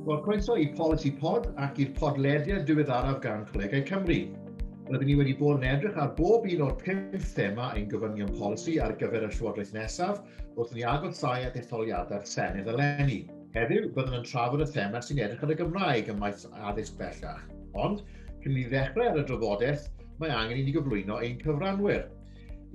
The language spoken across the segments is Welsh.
Wel, croeso i Policy Pod ac i'r podlediad diweddaraf gan Colegau Cymru. Rydyn ni wedi bod yn edrych ar bob un o'r pum thema ein gofynion polisi ar gyfer y llywodraeth nesaf wrth ni agosáu at etholiadau'r Senedd eleni. Heddiw, byddwn yn trafod y thema sy'n edrych ar y Gymraeg ym maes addysg bellach. Ond, cyn i ni ddechrau ar y drafodaeth, mae angen i ni gyflwyno ein cyfranwyr.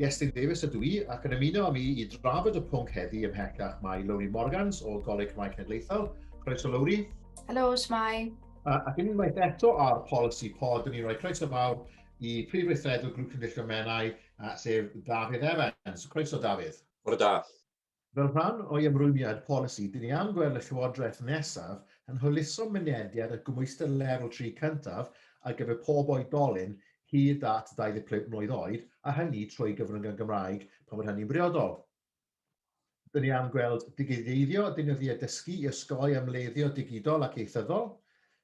Iestyn Davies ydw i ac yn ymuno â mi i drafod y pwnc heddi ymhellach mae Lowri Morgans o Goleg Cymraeg Cenedlaethol. Croeso Lowri. Helo, Shmai. A, ac unwaith eto ar Policy Pod, yn ni'n rhoi croeso fawr i Prif Weithredwr Grŵp Cynrychiol Menai, sef Dafydd Evans. Croeso Dafydd. Bore da. Fel rhan o'i ymrwymiad polisi, dyn ni am gweld y Llywodraeth nesaf yn hwyluso mynediad at gymhwyster lefel tri cyntaf ar gyfer pob oedolyn hyd at 25 mlwydd oed, a hynny trwy gyfrwng y Gymraeg pan fod hynny'n briodol. Dyn ni am gweld digiteiddio deunyddiau dysgu i osgoi ymleddio digidol ac ieithyddol.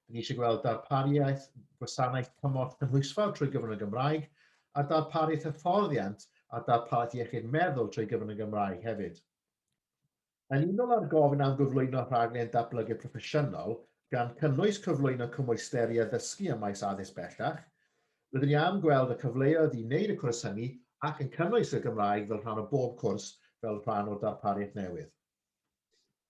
Dyn ni eisiau gweld darpariaeth gwasanaeth cymorth cynhwysfawr trwy gyfrwng y Gymraeg, a darpariaeth hyfforddiant a darpariaeth iechyd meddwl trwy gyfrwng y Gymraeg hefyd. Yn unol â'r gofyn am gyflwyno rhaglen datblygu proffesiynol, gan cynnwys cyflwyno cymwysteri addysgu ym maes addysg bellach, rydyn ni am gweld y cyfleoedd i wneud y cwrs hynny ac yn cynnwys y Gymraeg fel rhan o bob cwrs fel rhan o'r darpariaeth newydd.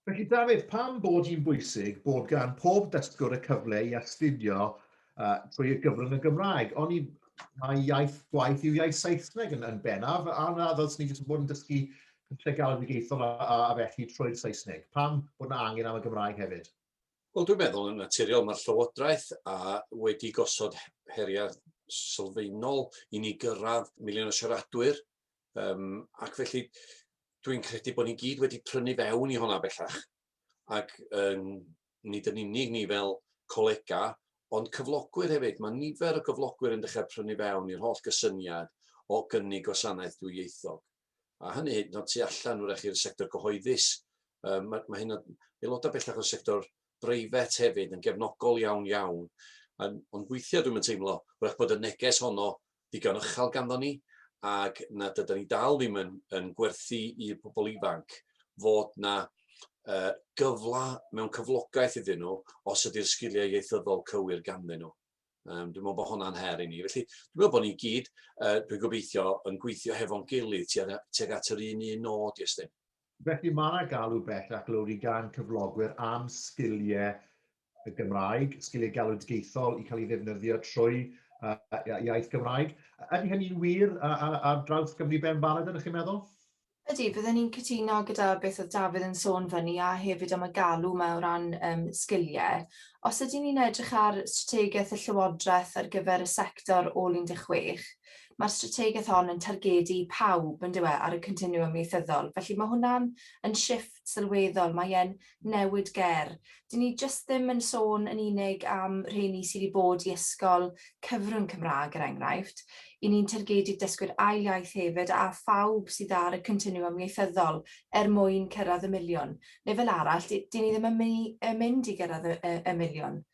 Felly Dafydd, pam bod hi'n bwysig bod gan pob dysgwr y cyfle i astudio uh, trwy y gyfrwng y Gymraeg? Ond mae iaith gwaith yw iaith Saesneg yn, yn bennaf, a na ddylsyn ni jyst yn bod yn dysgu pethau galwedigaethol a, a, a felly trwy'r Saesneg. Pam bod yna angen am y Gymraeg hefyd? Wel, dwi'n meddwl yn naturiol mae'r Llywodraeth a wedi gosod heriau sylfaenol i ni gyrraedd miliwn o siaradwyr Um, ac felly, dwi'n credu bod ni gyd wedi prynu fewn i hwnna bellach. Ac um, nid yn unig ni fel colega, ond cyflogwyr hefyd. Mae nifer o gyflogwyr yn dechrau prynu fewn i'r holl gysyniad o gynnig gwasanaeth dwyieithog. A hynny hyd yn oed tu allan wrach i'r sector gyhoeddus. Um, mae, mae hyn aelodau bellach o'r sector breifet hefyd yn gefnogol iawn iawn. Ond weithiau dwi'n teimlo, wrach bod y neges honno digon uchel ganddo ni ac nad ydan ni dal ddim yn, yn gwerthu i'r pobl ifanc fod na uh, gyfla mewn cyflogaeth iddyn nhw os ydy'r sgiliau ieithyddol cywir ganddyn nhw. Um, dwi'n meddwl bod hwnna'n her i ni. Felly, dwi'n meddwl bod ni gyd, uh, dwi'n gobeithio, yn gweithio hefo'n gilydd tuag at yr un un nod, Iestyn. Felly, mae yna galw bellach lawr i gan cyflogwyr am sgiliau y Gymraeg, sgiliau galwedigaethol i cael ei ddefnyddio trwy uh, iaith Gymraeg. Ydy hynny'n wir ar draws Gymru ben barod ydych chi'n meddwl? Ydy, byddwn ni'n cytuno gyda beth oedd Dafydd yn sôn fyny a hefyd am y galw yma o ran um, sgiliau. Os ydyn ni'n edrych ar strategaeth y Llywodraeth ar gyfer y sector ôl 16, mae'r strategaeth hon yn targedu pawb yn dywe ar y continwwm ieithyddol. Felly mae hwnna'n yn shift sylweddol, mae e'n newid ger. Dyn ni jyst ddim yn sôn yn unig am rheini sydd wedi bod i ysgol cyfrwng Cymraeg, er enghraifft. Y ni'n targedu dysgwyr ail iaith hefyd a phawb sydd ar y continwwm ieithyddol er mwyn cyrraedd y miliwn. Neu fel arall, dyn ni ddim yn mynd i gyrraedd y miliwn.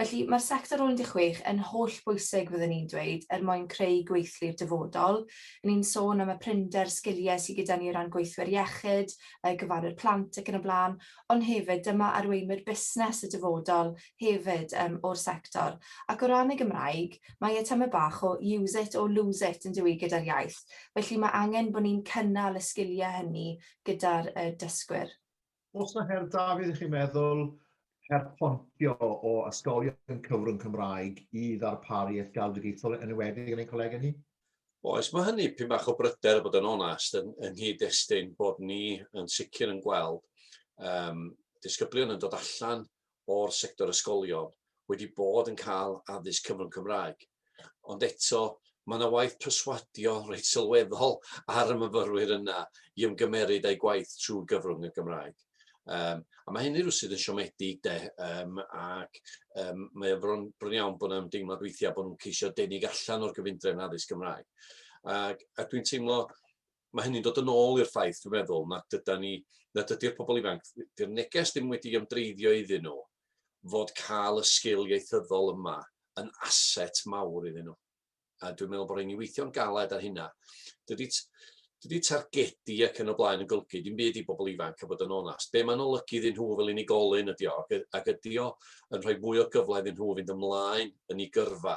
Felly, mae'r sector ôl 16 yn holl bwysig fyddwn i'n dweud er mwyn creu gweithlu'r dyfodol. Ry'n ni'n sôn am y prinder sgiliau sydd gyda ni o ran gweithwyr iechyd, yy gofalwyr plant ac yn y blaen, ond hefyd dyma arweinwyr busnes y dyfodol hefyd yym o'r sector. Ac o ran y Gymraeg, mae e tamaid bach o use it or lose it yn dyw 'i gyda'r iaith, felly mae angen bod ni'n cynnal y sgiliau hynny gyda'r yy dysgwyr. Oes 'na her Dafydd chi'n meddwl, her pontio o ysgolion cyfrwng Cymraeg i ddarparu ysgol digidol yn enwedig yn ein colegau ni? Oes, mae hynny p'un bach o bryder i fod yn onest yn yng nghyd-destun bod ni yn sicr yn gweld yym disgyblion yn dod allan o'r sector ysgolion wedi bod yn cael addysg cyfrwng Cymraeg, ond eto mae yna waith perswadio reit sylweddol ar y myfyrwyr yna i ymgymeryd â'u gwaith trwy gyfrwng y Gymraeg. Um, a mae hynny rhywsyd yn siomedig de, um, ac um, mae o'n bron, bron iawn bod yna ymdeimlad weithiau bod nhw'n ceisio denig allan o'r gyfundrefn addysg Gymraeg. Ac, a dwi'n teimlo mae hynny'n dod yn ôl i'r ffaith, dwi'n meddwl, nad yda ni, nad ydy'r pobl ifanc, dy'r neges ddim wedi ymdreiddio iddyn nhw fod cael y sgil ieithyddol yma yn aset mawr iddyn nhw. A dwi'n meddwl bod rhaid ni weithio'n galed ar hynna. Dydy, dydy targedu ac yn y blaen yn golygu dim byd i bobl ifanc a bod yn onast. Be mae'n olygu iddyn nhw fel unigolyn ydy o, ac ydy o yn rhoi mwy o gyfle iddyn nhw fynd ymlaen yn ei gyrfa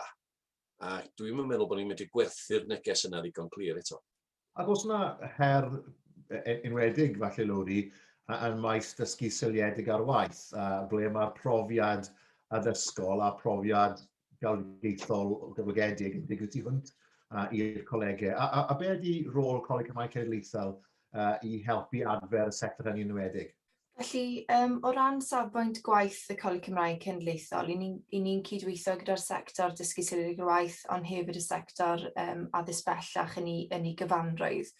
A dwi'm yn meddwl bod ni'n medru gwerthu'r neges yna ddigon clir eto. Ac os yna her e, e, enwedig falle Lowri, yn maes dysgu seiliedig ar waith, a ble mae'r profiad addysgol a profiad galwgeithol gyflogedig yn digwydd tu hwnt i'r colegau. A, a, a be ydy rôl Coleg Cymraeg Cenedlaethol uh, i helpu adfer y sector hynny enwedig? Felly, um, o ran safbwynt gwaith y Coleg Cymraeg Cenedlaethol, i ni'n ni, ni cydweithio gyda'r sector dysgu sylwyd i'r waith, ond hefyd y sector um, addysg bellach yn ei, yn ei gyfanrwydd.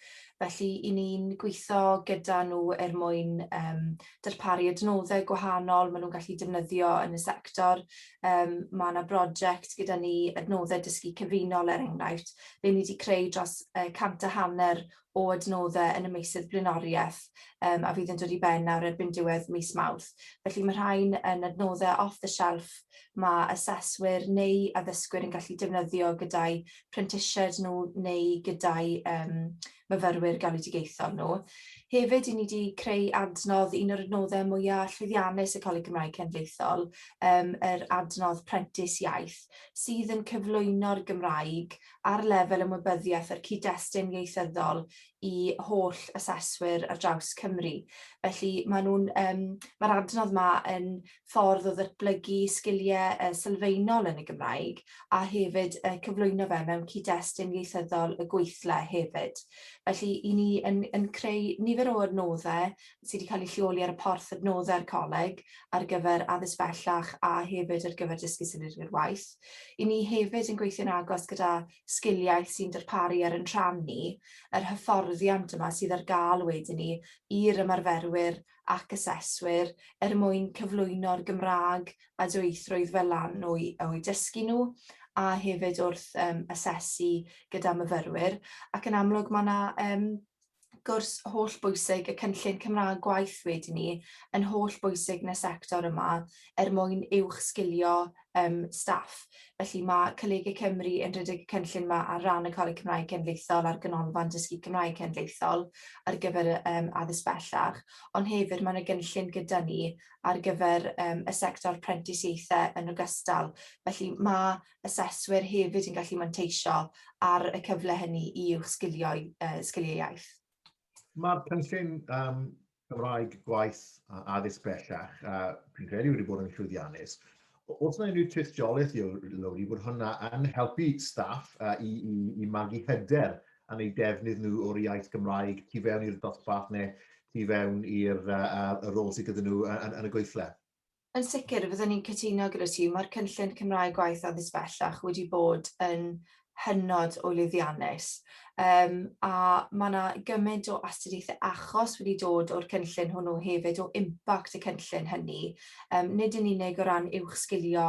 Felly, i ni'n gweithio gyda nhw er mwyn um, darparu adnoddau gwahanol maen nhw'n gallu defnyddio yn y sector. Um, mae yna brosiect gyda ni, adnoddau dysgu cyfunol er enghraifft, fe ni wedi creu dros uh, cant a hanner o adnoddau yn y meysydd blaenoriaeth a fydd yn dod i ben nawr erbyn diwedd mis Mawrth. Felly mae rhain yn adnoddau off the shelf mae aseswyr neu addysgwyr yn gallu defnyddio gyda'u prentisiaid nhw neu gyda'u myfyrwyr galwedigaethol nhw. Hefyd, i ni wedi creu adnodd, un o'r adnoddau mwyaf llwyddiannus y Coleg Cymraeg Cenedlaethol, yr adnodd Prentis Iaith, sydd yn cyflwyno'r Gymraeg ar lefel ymwybyddiaeth a'r cyd-destun ieithyddol i holl aseswyr ar draws Cymru. Felly maen nhw'n yym ma'r adnodd yma yn ffordd o ddatblygu sgiliau yy sylfaenol yn y Gymraeg a hefyd yy cyflwyno fe mewn cyd-destun ieithyddol y gweithle hefyd. Felly 'yn ni yn yn creu nifer o adnoddau sy wedi cael ei lleoli ar y porth adnoddau'r Coleg ar gyfer addysg bellach a hefyd ar gyfer dysgu symud i'r waith. I ni hefyd yn gweithio'n agos gyda Sgiliaeth sy'n darparu er yn rhan ni yr hyfforddiant yma sydd ar gael wedyn ni i'r ymarferwyr ac aseswyr er mwyn cyflwyno'r Gymraeg a dwyieithrwydd fel lan o'u o'u dysgu nhw a hefyd wrth um, asesu gyda myfyrwyr ac yn amlwg mae yna um, gwrs holl bwysig y cynllun Cymraeg gwaith wedi ni yn holl bwysig nes sector yma er mwyn uwch sgilio um, staff. Felly mae Colege Cymru yn rhedeg y cynllun yma ar ran y Coleg Cymraeg Cenedlaethol a'r Ganolfan Dysgu Cymraeg Cenedlaethol ar gyfer um, addysg bellach, ond hefyd mae'n y gynllun gyda ni ar gyfer um, y sector prentisiaethau yn ogystal. Felly mae aseswyr hefyd yn gallu manteisio ar y cyfle hynny i uwch sgilio'i uh, sgiliau iaith. Mae'r cynllun um, Cymraeg gwaith a addysg bellach, a fi'n credu wedi bod yn llwyddiannus, Os yna unrhyw tystiolaeth i'w lawr i bod hwnna yn helpu staff uh, i, i, i magu hyder yn eu defnydd nhw o'r iaith Gymraeg tu fewn i'r dosbarth neu tu fewn i'r uh, rôl sydd gyda nhw yn, yn y gweithle? Yn sicr, fyddwn i'n cytuno gyda ti, mae'r cynllun Cymraeg Gwaith Addysg Bellach wedi bod yn hynod o lwyddiannus, um, a mae yna gymaint o astudiaethau achos wedi dod o'r cynllun hwnnw hefyd, o impact y cynllun hynny, um, nid yn unig o ran uwch sgilio,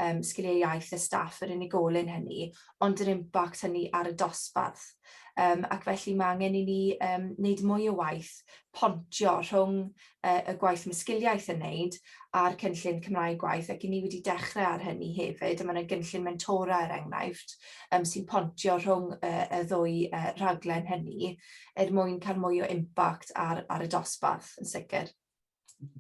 um, sgiliau iaith y staff yr unigolyn hynny, ond yr impact hynny ar y dosbarth. Um, ac felly mae angen i ni um, wneud mwy o waith pontio rhwng y gwaith mysgiliaeth yn wneud a'r cynllun Cymraeg Gwaith ac i ni wedi dechrau ar hynny hefyd a mae yna gynllun mentora er enghraifft um, sy'n pontio rhwng uh, y ddwy uh, rhaglen hynny er mwyn cael mwy o impact ar, ar y dosbarth yn sicr.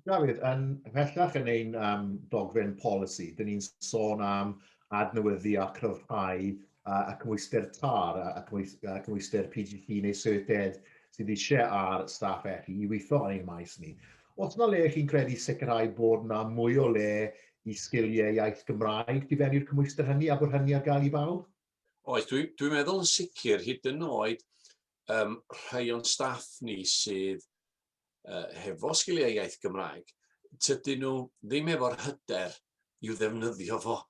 Dafydd, yn ymhellach yn ein um, dogfen polisi, dyn ni'n sôn am adnewyddu a cryfhau uh, a cymwyster TAR a, a, cymwys, a cymwyster PGC neu Syrted sydd eisiau ar staff eich i weithio yn ein maes ni. Os yna le chi'n credu sicrhau bod yna mwy o le i sgiliau iaith Gymraeg i fewn i'r cymwystr hynny a bod hynny ar gael i bawb? Oes, dwi'n dwi meddwl yn sicr, hyd yn oed um, rhai o'n staff ni sydd uh, hefo sgiliau iaith Gymraeg, tydyn nhw ddim efo'r hyder i'w ddefnyddio fo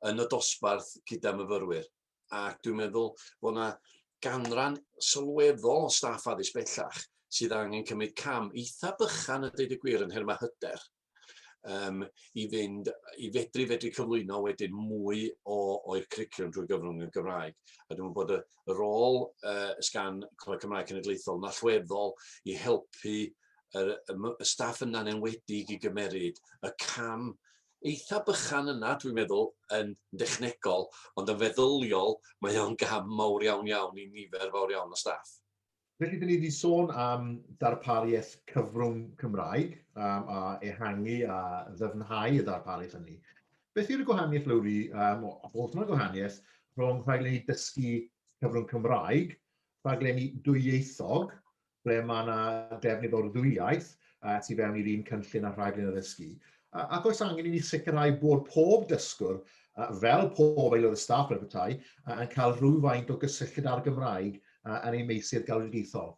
yn y dosbarth gyda myfyrwyr. Ac dwi'n meddwl bod yna ganran sylweddol o staff addysg bellach sydd angen cymryd cam eitha bychan y dweud y gwir yn nhermau hyder. um, i fynd, i fedru fedru cyflwyno wedyn mwy o, o'r cwricwlwm drwy gyfrwng y Gymraeg. A dwi'n bod y, y rôl uh, sgan Coleg Cymraeg Cenedlaethol yn allweddol i helpu y, y, y staff yna'n enwedig i gymeryd y cam eitha bychan yna, dwi'n meddwl, yn dechnegol, ond yn feddyliol, mae o'n gam mawr iawn iawn i nifer fawr iawn o staff. Felly, dyn ni wedi sôn am darpariaeth cyfrwng Cymraeg um, a ehangu a ddyfnhau y darpariaeth hynny. Beth yw'r gwahaniaeth, Lowri, um, o, os yna gwahaniaeth, rhwng rhaglenni dysgu cyfrwng Cymraeg, rhaglenni dwyieithog, ble mae yna defnydd o'r ddwy iaith, uh, tu fewn i'r un cynllun a rhaglen addysgu. Uh, ac oes angen i ni sicrhau bod pob dysgwr, uh, fel pob aelod y staff ar y petai, uh, yn cael rhywfaint o gysylltiad â'r Gymraeg uh, yn ei meisydd galwedigaethol.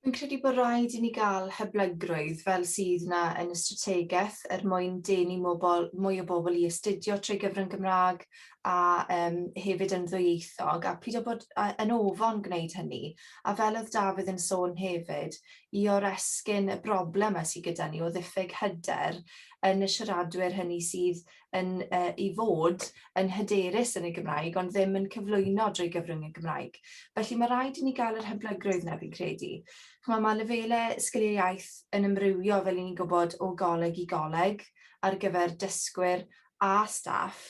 Dwi'n credu bod rhaid i ni gael hyblygrwydd fel sydd yna yn y strategaeth er mwyn denu mobl, mwy o bobl i astudio trwy gyfrwng Gymraeg a um, hefyd yn ddwyieithog a pryd o bod yn ofon gwneud hynny. A fel oedd Dafydd yn sôn hefyd, i oresgyn y broblem a sy gyda ni o ddiffyg hyder yn y siaradwyr hynny sydd yn yy i fod yn hyderus yn y Gymraeg ond ddim yn cyflwyno drwy gyfrwng y Gymraeg. Felly ma' raid i ni ga'l yr hyblygrwydd 'na fi'n credu. Ch'mo' ma' lefele sgiliau iaith yn ymrywio fel 'yn ni'n gwbod o goleg i goleg ar gyfer dysgwyr a staff,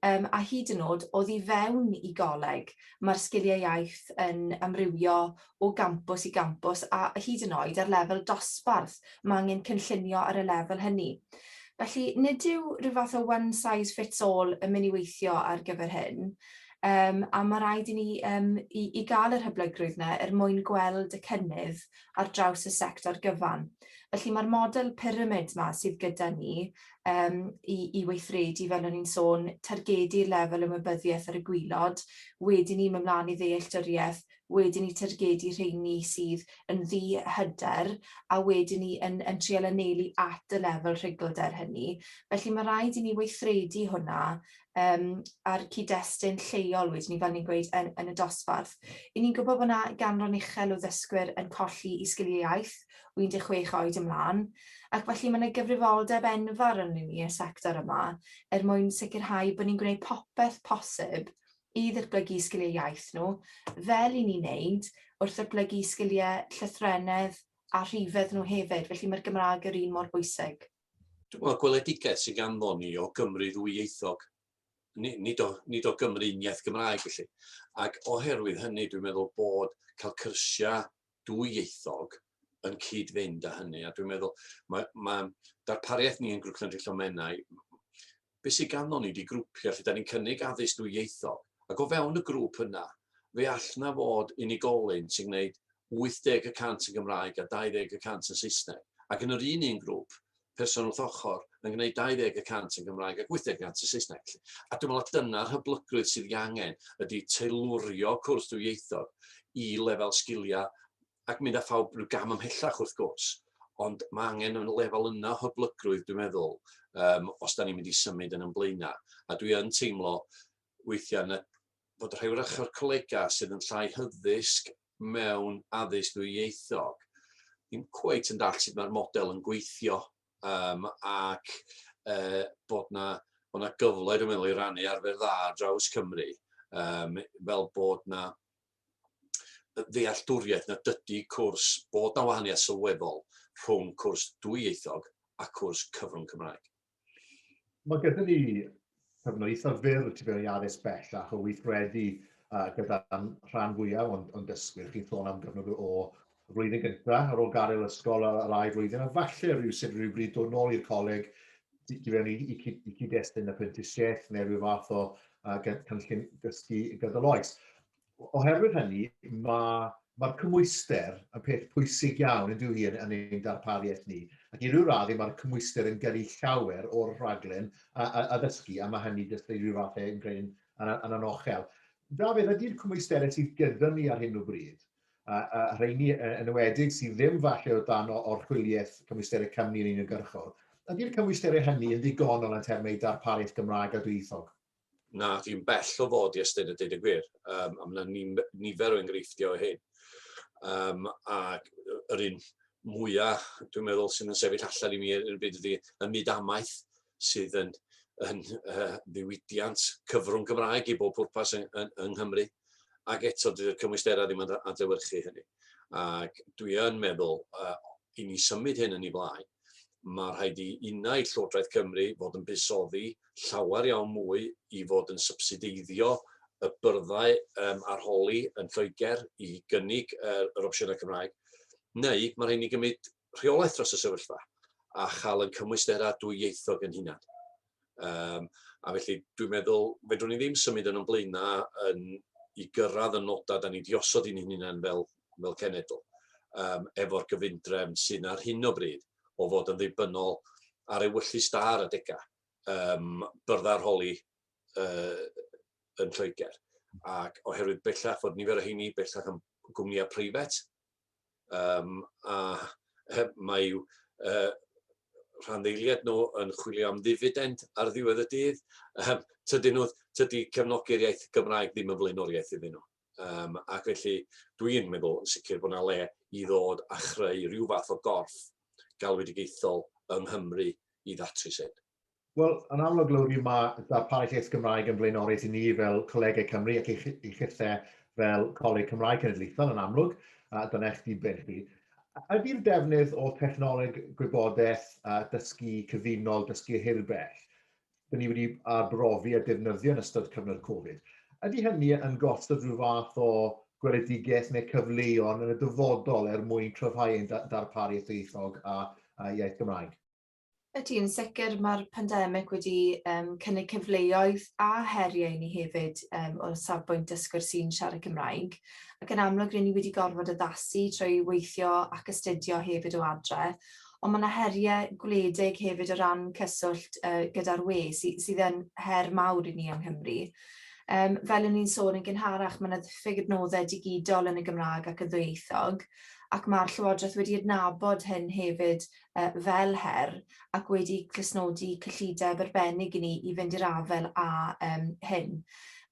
yym, a hyd yn o'd oddi fewn i goleg, mae'r sgiliau iaith yn amrywio o gampws i gampws a hyd yn oed ar lefel dosbarth mae angen cynllunio ar y lefel hynny. Felly, nid yw rhyw fath o one size fits all yn mynd i weithio ar gyfer hyn, yym, a mae rhaid i ni yym i i gael yr hyblygrwydd 'na er mwyn gweld y cynnydd ar draws y sector gyfan. Felly, mae'r model pyramid 'ma sydd gyda ni um, i, i weithredu, fel o'n i'n sôn, targedu'r lefel ymwybyddiaeth ar y gwylod, wedyn ni mynd mlaen i ddealltwriaeth, wedyn ni targedu rheini sydd yn ddi hyder, a wedyn ni yn, yn treol anelu at y lefel rhugl der hynny. Felly mae rhaid i ni weithredu hwnna um, a'r cyd-destun lleol wedyn ni, fel ni'n gweud, yn, yn y dosbarth. I ni'n gwybod bod yna ganran uchel o ddysgwyr yn colli i sgiliau iaith o 16 oed ymlaen, ac felly mae yna gyfrifoldeb enfawr yn ni y sector yma er mwyn sicrhau bod ni'n gwneud popeth posib i ddatblygu sgiliau iaith nhw, fel i ni wneud wrth ddatblygu sgiliau llythrennedd a rhifedd nhw hefyd, felly mae'r Gymraeg yr un mor bwysig. Wel, gweledigaeth sy'n ganddon ni o Gymru ddwyieithog, nid o, nid o Gymru uniaith Gymraeg felly. Ac oherwydd hynny, dwi'n meddwl bod cael cyrsiau dwyieithog yn cyd-fynd â hynny. A dwi'n meddwl, mae, mae darpariaeth ni yn Grŵp Cenedlaethol Menai, be sy ganddo ni ydi grwpiau lle 'da ni'n cynnig addysg dwyieithog, ac o fewn y grŵp yna, fe all 'na fod unigolyn sy'n gwneud 80 y cant yn Gymraeg a 20 y cant yn Saesneg, ac yn yr un un grŵp, person wrth ochr yn gwneud 20 y cant yn Gymraeg ac 80 y cant yn Saesneg, 'lly. A dwi'n meddwl dyna'r hyblygrwydd sydd ei angen, ydi teilwrio cwrs dwyieithog i lefel sgiliau ac mynd â phawb rhyw gam ymhellach wrth gwrs, ond mae angen yn y lefel yna o hyblygrwydd dwi'n meddwl um, os da ni'n mynd i symud yn ymblaenau. A dwi yn teimlo weithiau na, bod rhai wrach o'r colega sydd yn llai hyddysg mewn addysg ddwyieithog ddim cweit yn dall sut mae'r model yn gweithio um, ac uh, bod na, bod na gyfle dwi'n meddwl i rannu arfer dda draws Cymru um, fel bod na ddealltwriaeth nad ydy cwrs, bod 'na wahaniaeth sylweddol rhwng cwrs dwyieithog a cwrs cyfrwng Cymraeg. Mae gyda ni cyfnod eitha fyr tu fewn i addysg bellach o weithredu gyda'r rhan fwyaf o'n dysgwyr. Chi'n sôn am gyfnod o y flwyddyn gynta ar ôl gadael ysgol a yr ail flwyddyn, a falle rywsut rywbryd dod nôl i'r coleg i i fewn i i cyd- i cyd-destun apprentisiaeth neu ryw fath o yy gyn- cynllun dysgu gydol oes. O- Oherwydd hynny, ma' ma'r cymhwyster yn peth pwysig iawn yndyw hi yn yn ein darpariaeth ni, ac i ryw raddau ma'r cymhwyster yn gyrru llawer o'r rhaglen a a a ddysgu, a ma' hynny jyst i ryw fath yn gwneud yn yn yn anochel. Dafydd, ydi'r cymwysterau sydd gyda ni ar hyn o bryd a, a rheini yn enwedig sydd ddim falle o dan orchwyliaeth cymwysterau cymni yn uniongyrchol, ydy'r cymwysterau hynny yn ddigonol yn termau darpariaeth Gymraeg a dwyieithog? Na, dwi'n bell o fod i ystyr y dyd y gwir, um, a mae yna nifer o enghreifftiau o hyn. Um, a yr un mwyaf, dwi'n meddwl, sy'n yn sefyll allan i mi yn y byd ydy y myd amaeth, sydd yn yn yy ddiwydiant cyfrwng Gymraeg i bob pwrpas yng, yng, yng Nghymru ac eto dydy'r cymwysterau ddim yn adlewyrchu hynny. Ac dwi yn meddwl uh, i ni symud hyn yn ei flaen, mae rhaid i unau Llywodraeth Cymru fod yn busoddi llawer iawn mwy i fod yn subsideiddio y byrddau um, arholi yn Lloegr i gynnig uh, yr opsiynau Cymraeg, neu mae rhaid ni gymryd rheolaeth dros y sefyllfa a chael yn cymwysterau dwyieithog yn hunan. Um, a felly dwi'n meddwl, fedrwn ni ddim symud yn o'n blaena yn, i gyrraedd y nodau da ni diosod i'n hunan fel, fel cenedl, um, efo'r gyfundrefn sy'n ar hyn o bryd o fod yn ddibynnol ar ewyllus da ar adega um, byrdda'r holi uh, yn Lloegr. Ac oherwydd bellach fod nifer o heini bellach yn gwmnïau preifat, um, a mae uh, rhan ddeiliad nhw yn chwilio am ddifidend ar ddiwedd y dydd. Um, tydy, nhw, tydy cefnogi'r iaith Gymraeg ddim yn flaenoriaeth iddyn nhw. Um, ac felly dwi'n meddwl yn sicr bod yna le i ddod a chreu rhyw fath o gorff galwedigaethol yng Nghymru i ddatrys hyn. Wel, yn amlwg, Lowri, mae darparu lles Gymraeg yn flaenorus i ni fel colegau Cymru ac i, chi, i chithe fel Coleg Cymraeg Cenedlaethol yn amlwg, a dyna eich diben chi. Ydy'r defnydd o technoleg gwybodaeth a dysgu cyfunol, dysgu hirbell, dyn ni wedi arbrofi a defnyddio yn ystod cyfnod Covid, ydy hynny yn gosod rhyw fath o gweledigaeth neu cyfleon yn y dyfodol er mwyn cryfhau ein darparu ieithoedd a, a iaith Gymraeg? Ydy, yn sicr mae'r pandemig wedi um, cynnig cyfleoedd a heriau i ni hefyd um, o'r safbwynt dysgwyr sy'n siarad Cymraeg, ac yn amlwg rydyn ni wedi gorfod addasu trwy weithio ac astudio hefyd o adre, ond mae yna heriau gwledig hefyd o ran cyswllt uh, gyda'r we, sy sydd yn her mawr i ni yng Nghymru. Um, fel yn ni'n sôn yn gynharach, mae yna ddiffyg adnoddau digidol yn y Gymraeg ac yn ddwyieithog, ac mae'r Llywodraeth wedi adnabod hyn hefyd fel her ac wedi clustnodi cyllideb arbennig i ni i fynd i'r afael â hyn.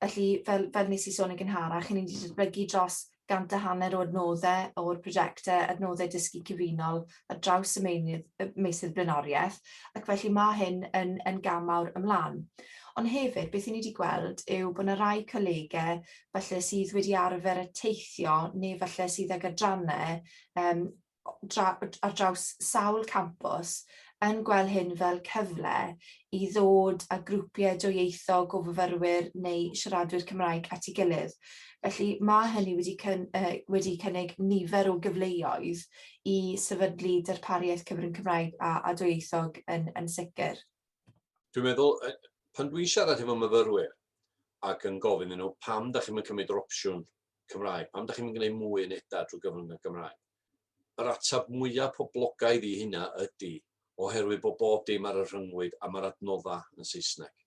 Felly, fel nes i sôn yn gynharach, 'yn ni wedi datblygu dros gant a hanner o adnoddau o'r prosiectau Adnoddau Dysgu Cyfunol ar draws y meysydd blaenoriaeth, ac felly ma' hyn yn gam mawr ymlaen. Ond hefyd, beth 'yn ni 'di gweld yw bod 'na rai colegau falle sydd wedi arfer teithio neu falle sydd ag adrannau ar draws sawl campws yn gweld hyn fel cyfle i ddod â grwpiau dwyieithog o fyfyrwyr neu siaradwyr Cymraeg at ei gilydd. Felly mae hynny wedi, cyn, uh, wedi cynnig nifer o gyfleoedd i sefydlu darpariaeth cyfrwng Cymraeg a, a dwyieithog yn, yn sicr. Dwi'n meddwl, pan dwi'n siarad efo myfyrwyr ac yn gofyn nhw pam da chi'n cymryd yr opsiwn Cymraeg? Pam da chi'n gwneud mwy yn eda drwy gyfrwng y Gymraeg? Yr atab mwyaf poblogaidd i hynna ydy oherwydd bod bob dim ar y rhyngwyd a mae'r adnoddau yn Saesneg.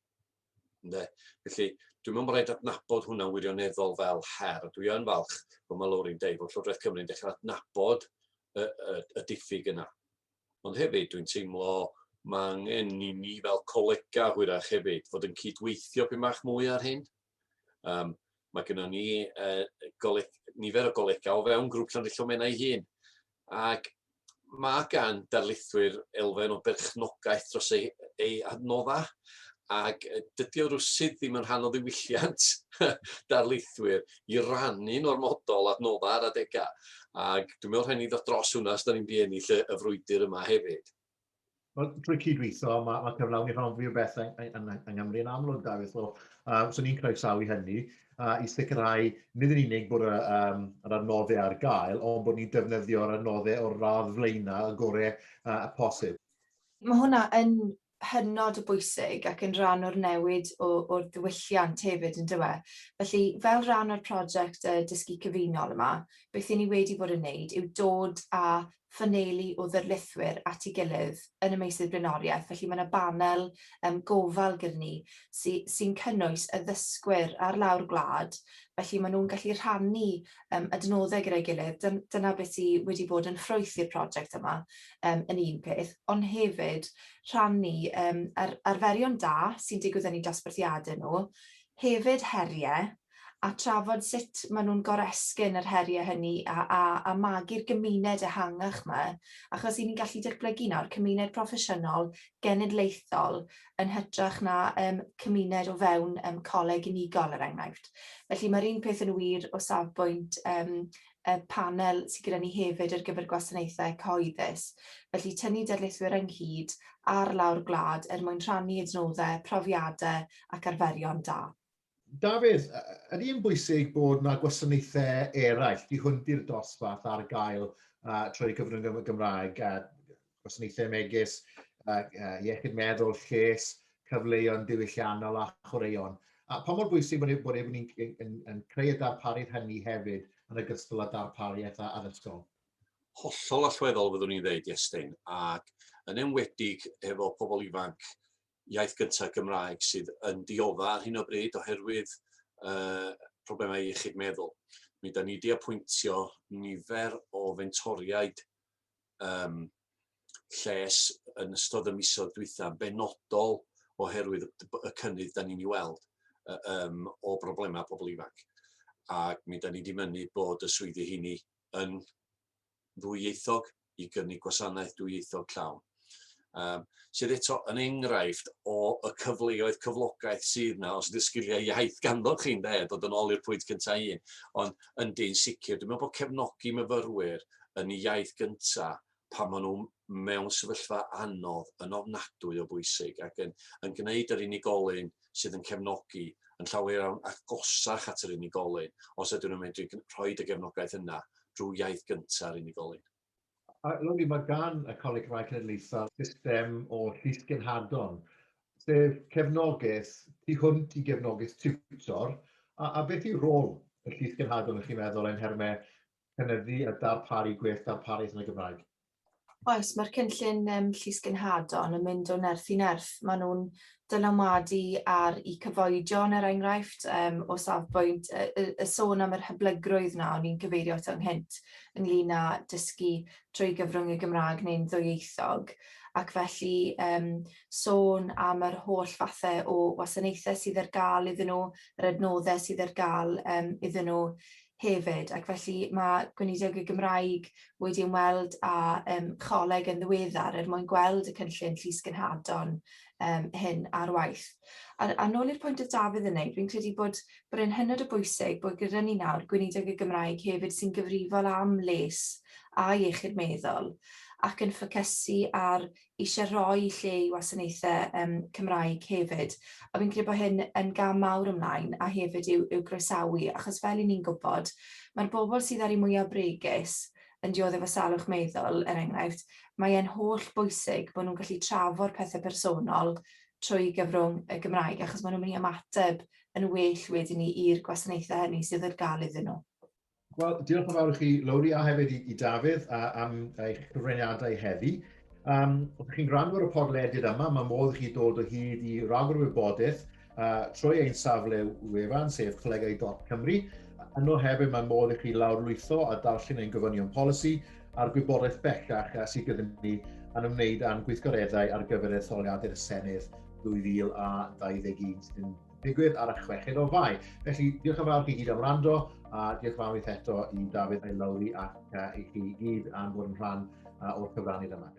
Ynde? Felly, dwi'n meddwl bod rhaid adnabod hwnna wirioneddol fel her. Dwi yn falch bod mae Lowry'n deud bod Llywodraeth Cymru'n dechrau adnabod y, y, y diffyg yna. Ond hefyd, dwi'n teimlo mae angen i ni fel colega hwyrach hefyd fod yn cydweithio pyn bach mwy ar hyn. Um, mae gennym ni uh, goleg, nifer o golegau o fewn grŵp Llanrillon Menna ei hun. Ac mae gan darlithwyr elfen o berchnogaeth dros ei, ei adnoddau ac dydy o rwsyd ddim yn rhan o ddiwylliant darlithwyr i rannu normodol adnoddau ar adegau. Ac dwi'n meddwl rhaid ni ddod dros hwnna os da ni'n mynd i ennill y, y frwydr yma hefyd. Wel, drwy cydweithio, mae, mae cyflawni rhan fwy o beth yng, yng, yng Nghymru yn amlwg, Dafydd. So, uh, so ni'n croesawu hynny uh, i sicrhau nid yn unig bod yr, um, yr adnoddau ar gael, ond bod ni'n defnyddio'r adnoddau o'r radd flaenau y gorau uh, y posib. Mae hwnna yn hynod o bwysig ac yn rhan o'r newid o, o'r diwylliant hefyd yn dywe. Felly, fel rhan o'r prosiect y dysgu cyfunol yma, beth i ni wedi bod yn wneud yw dod â ffaneili o ddarlithwyr at ei gilydd yn y meysydd blaenoriaeth, felly mae 'na banel yym gofal gyda ni sy sy'n cynnwys y ddysgwyr ar lawr gwlad, felly maen nhw'n gallu rhannu yym adnoddau gyda'i gilydd, dyn- dyna beth sy wedi bod yn ffrwyth i'r project yma yym yn un peth, ond hefyd rhannu yym yr arferion da sy'n digwydd yn eu dosbarthiadau nhw, hefyd heriau, a trafod sut maen nhw'n goresgyn yr heriau hynny a, a, a magu'r gymuned ehangach 'ma, achos 'y ni'n gallu datblygu nawr cymuned proffesiynol genedlaethol yn hytrach na um, cymuned o fewn um, coleg unigol, er enghraifft. Felly mae'r un peth yn wir o safbwynt um, y panel sydd gyda ni hefyd ar gyfer gwasanaethau cyhoeddus. Felly tynnu darlithwyr ynghyd ar lawr gwlad er mwyn rhannu adnoddau, profiadau ac arferion da. Dafydd, ydy yn bwysig bod yna gwasanaethau eraill, di hwn di'r dosbarth ar gael uh, trwy gyfrwng y Gymraeg, uh, gwasanaethau megis uh, uh, iechyd meddwl, lles, cyfleoedd diwylliannol a chwaraeon. A pa mor bwysig bod, e, bod e'n yn, yn, yn creu y darpariaeth hynny hefyd yn ogystal â darpariaeth addysgol? Hollol allweddol fyddwn i'n dweud, Iestyn, ac yn enwedig efo pobl ifanc iaith gynta Gymraeg sydd yn diodda' ar hyn o bryd oherwydd yy problemau iechyd meddwl. Mi da ni wedi apwyntio nifer o fentoriaid um, lles yn ystod y misoedd dwytha, benodol oherwydd y cynnydd da ni'n ei weld um, o broblemau pobl ifanc. Ac mi da ni wedi mynnu bod y swyddi hynny yn ddwyieithog i gynnig gwasanaeth dwyieithog llawn. Um, sydd eto yn enghraifft o y cyfleoedd cyflogaeth sydd yna os ydy'r sgiliau iaith ganddo chi'n de, dod yn ôl i'r pwynt cyntaf un, ond yn dyn sicr, dwi'n meddwl bod cefnogi myfyrwyr yn iaith gyntaf pan maen nhw'n mewn sefyllfa anodd yn ofnadwy o bwysig ac yn, yn gwneud yr unigolyn sydd yn cefnogi yn llawer iawn agosach at yr unigolyn os ydyn nhw'n medru rhoi y gefnogaeth yna drwy iaith gyntaf yr unigolyn. A Loli, mae gan y Coleg Cymraeg Cenedlaethol system o llysgenhadon, sef cefnogaeth tu hwnt i gefnogaeth tiwtor, a, a beth yw rôl y llysgenhadon, ych chi'n meddwl, yn nhermau cynyddu a darparu gwell darpariaeth yn y Gymraeg. Oes, mae'r cynllun um, Llys Genhadon yn mynd o nerth i nerth. Maen nhw'n dylanwadu ar i cyfoedion, er enghraifft, um, o safbwynt y, y, y sôn am yr hyblygrwydd na o'n i'n cyfeirio at ynghynt ynglyn â dysgu trwy gyfrwng y Gymraeg neu'n ddwyieithog ac felly um, sôn am yr holl fathau o wasanaethau sydd ar gael iddyn nhw, yr adnoddau sydd ar gael um, iddyn nhw hefyd ac felly mae Gweinidog y Gymraeg wedi ymweld â um, choleg yn ddiweddar er mwyn gweld y cynllun llys gynhadon um, hyn ar waith. A, a nôl i'r pwynt oedd Dafydd yn neud, fi'n credu bod, bod e'n hynod o bwysig bod gyda ni nawr Gweinidog y Gymraeg hefyd sy'n gyfrifol am les a iechyd meddwl ac yn ffocysu ar eisiau rhoi lle i wasanaethau yym Cymraeg hefyd, a fi'n credu bod hyn yn gam mawr ymlaen, a hefyd i'w i'w groesawu, achos fel 'yn ni'n gwybod, mae'r bobl sydd â'r un mwyaf bregus yn dioddef efo salwch meddwl, er enghraifft, mae e'n holl bwysig bod nhw'n gallu trafod pethau personol trwy gyfrwng y Gymraeg, achos maen nhw'n mynd i ymateb yn well wedyn ni i'r gwasanaethau hynny sydd ar gael iddyn nhw. Wel, diolch yn fawr i chi, Lowri, a hefyd i, i Dafydd a, am eich cyfraniadau heddi. Um, os chi'n gwrando ar y podlediad yma, mae modd i chi dod o hyd i ragor o wybodaeth uh, trwy ein safle wefan, sef colegau.cymru. Yno hefyd mae modd i chi lawrlwytho a darllen ein gofynion polisi a'r gwybodaeth bellach uh, sydd gyda ni yn ymwneud â'n gweithgareddau ar gyfer etholiadau'r Senedd 2021 sy'n digwydd ar y chweched o fai. Felly, diolch yn fawr chi gyd am rando, a diolch yn fawr eto i Dafydd a'i Lowri ac uh, i chi gyd am bod yn rhan uh, o'r cyfrannydd yma.